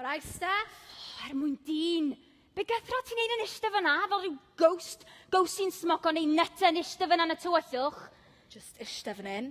Alright, Steph? Oh, er mwyn dyn. Be gythro ti'n neud yn ishte fyna, fel rhyw ghost, ghost sy'n smoco neu nyta yn ishte fyna yn y tywyllwch? Just ishte fan hyn.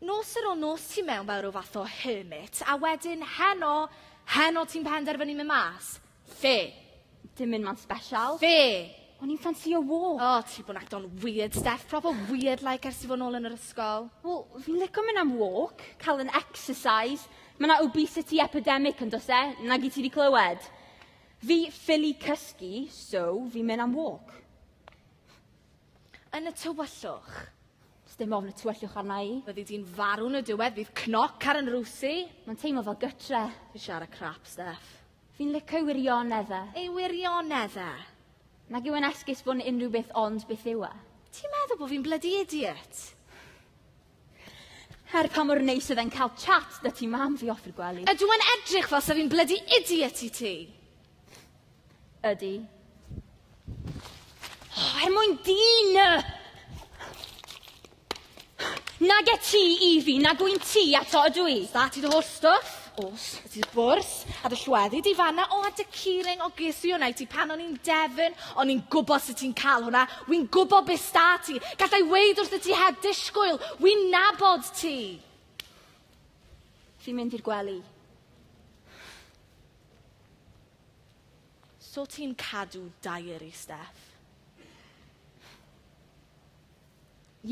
Nos ar ôl nos ti mewn fel rhyw fath o hermit, a wedyn heno, heno ti'n penderfynu mynd mas. Fe. Dim mynd ma'n special. Fe. O'n i'n ffansio wo. O, ti bod yn acto'n weird, Steph. Proper weird like ers ti fod nôl yn yr ysgol. Wel, fi'n lico mynd am walk, cael yn exercise. Mae yna obesity epidemic yn dos e, nag i ti wedi clywed. Fi ffili cysgu, so fi'n mynd am walk. Yn y tywyllwch. Does dim ofn y tywyllwch arna i. Fyddi di'n farw yn y diwedd, fydd cnoc ar yn rwsi. Mae'n teimlo fel gytre. Fi'n siarad crap, Steph. Fi'n licio ei wirionedd e. Ei wirionedd e? Nag yw e'n esgus bod yn unrhyw beth ond beth yw e. Ti'n meddwl bod fi'n bloody idiot? Her pa mor neis oedd e'n cael chat da ti mam fi off i'r gwely. Ydw yn edrych fel sef fi'n blydi idiot i ti. Ydy. Oh, er mwyn dyn! Nag e ti i fi, nag wy'n ti ato ydw i. Da ti dy holl stwff? Os ydy'r bwrdd a dy llweddi di fanna, o a dy curing, o ges i hwnna i ti pan o'n i'n Devon, o'n i'n gwybod sut ti'n cael hwnna, wy'n gwybod beth sta ti, gallai weid wrth y ti heb disgwyl, wy'n nabod ti. Fi'n mynd i'r gwely. So ti'n cadw diary, Steph?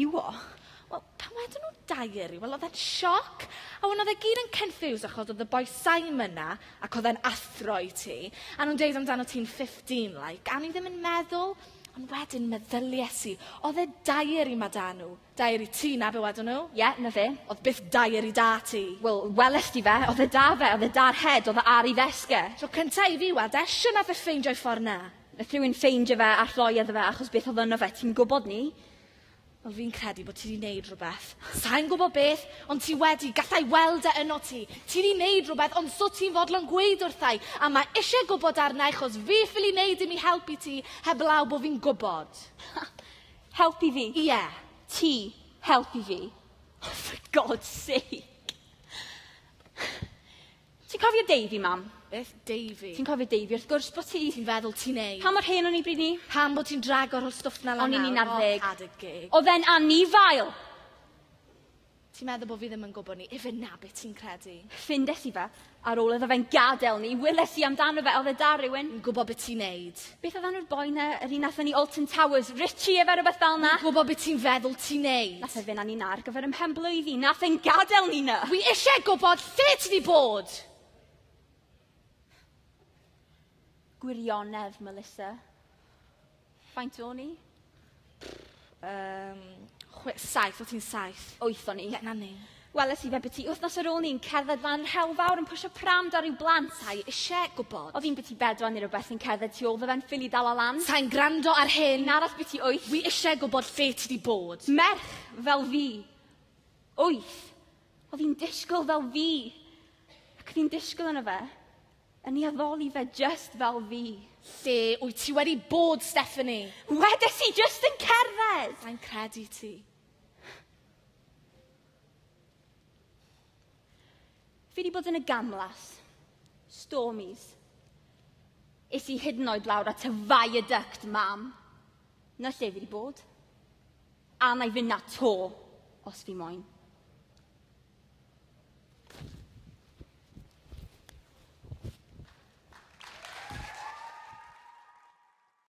Iwo? Wel, pan wedon nhw diary, wel oedd e'n sioc. A wan oedd e gyd yn confused achos oedd y boi Simon 'na ac oedd e'n athro i ti a nhw'n deud amdano ti'n 15 like a o'n i ddim yn meddwl ond wedyn meddylies i oedd e diary 'ma 'da nhw. Diary ti 'na be wedon nhw. Ie, 'na fe. Oedd byth diary 'da ti. Wel, welest ti fe, oedd e 'da fe, oedd e 'da'r head, oedd e ar ei ddesg e. Tro cynta' i fi weld e, shwt nath e ffeindio'i ffordd 'na? Nath rhywun ffeindio fe a rhoi iddo fe achos beth oedd yno fe, ti'n gwybod ni? Wel fi'n credu bod ti wedi wneud rhywbeth. Sa'n gwybod beth, ond ti wedi, gallai weld e yno ti. Ti wedi wneud rhywbeth, ond so ti'n fodlon gweud wrthai, a mae eisiau gwybod arna i chos fi ffili wneud dim i helpu ti, heblaw bod fi'n gwybod. Helpu fi? Ie. Yeah. Ti, helpu fi. Oh, for God's sake! Ti'n cofio Davey, Mam? Beth Davey? Ti'n cofio Davey, wrth gwrs bo' ti! Ti'n feddwl ti'n neud? Pa mor hen o'n i bryd 'ny? Pam bo' ti'n drago'r holl stwff 'na lan nawr? O'n i'n un ar ddeg. O, had a geg. O'dd e'n anifail! Ti'n meddwl bo' fi ddim yn gwbo ni? Ife 'na be' ti'n credu? Ffindes i fe, ar ôl iddo fe'n gadel ni, weles i amdano fe, o'dd e 'da rywun? Fi'n gwbo be' ti'n neud. Beth oedd enw'r boi 'na, yr un nath fyny Alton Towers, Richie efe rwbeth fel 'na? Fi'n gwbo be' ti'n feddwl ti'n neud. Nath e fyn' â Nina ar gyfer 'yn mhen-blwydd i. Nath e'n gadel Nina! Wi isie gwbod lle ti 'di bod! Gwirionedd, Melissa. Faint o'n i? Yym chwe- saith, o' ti'n saith? Wyth o'n i. Ie, 'na ni. Weles i fe biti wythnos ar ôl 'ny'n cerdded lan Rhewl Fawr yn pwsio pram 'da ryw blant sai isie gwbod. O'dd un biti bedwar ne' rwbeth yn cerdded tu ôl fy fe'n ffili dala lan. Sai'n gwrando ar hyn. Un arall biti wyth. Wi isie gwbod lle ti 'di bod. Merch fel fi. Wyth. O'dd hi'n disgwl fel fi. Ac o'dd hi'n disgwl arno fe. Yn ei addoli fe just fel fi. Lle wyt ti wedi bod, Stephanie? Wedes i just yn cerdded! Sa'n credu ti. Fi wedi bod yn y gamlas. Stormies. Is i hyd yn oed lawr at y viaduct, mam. Na lle fi wedi bod. A wna i fynd 'na 'to, os fi moyn.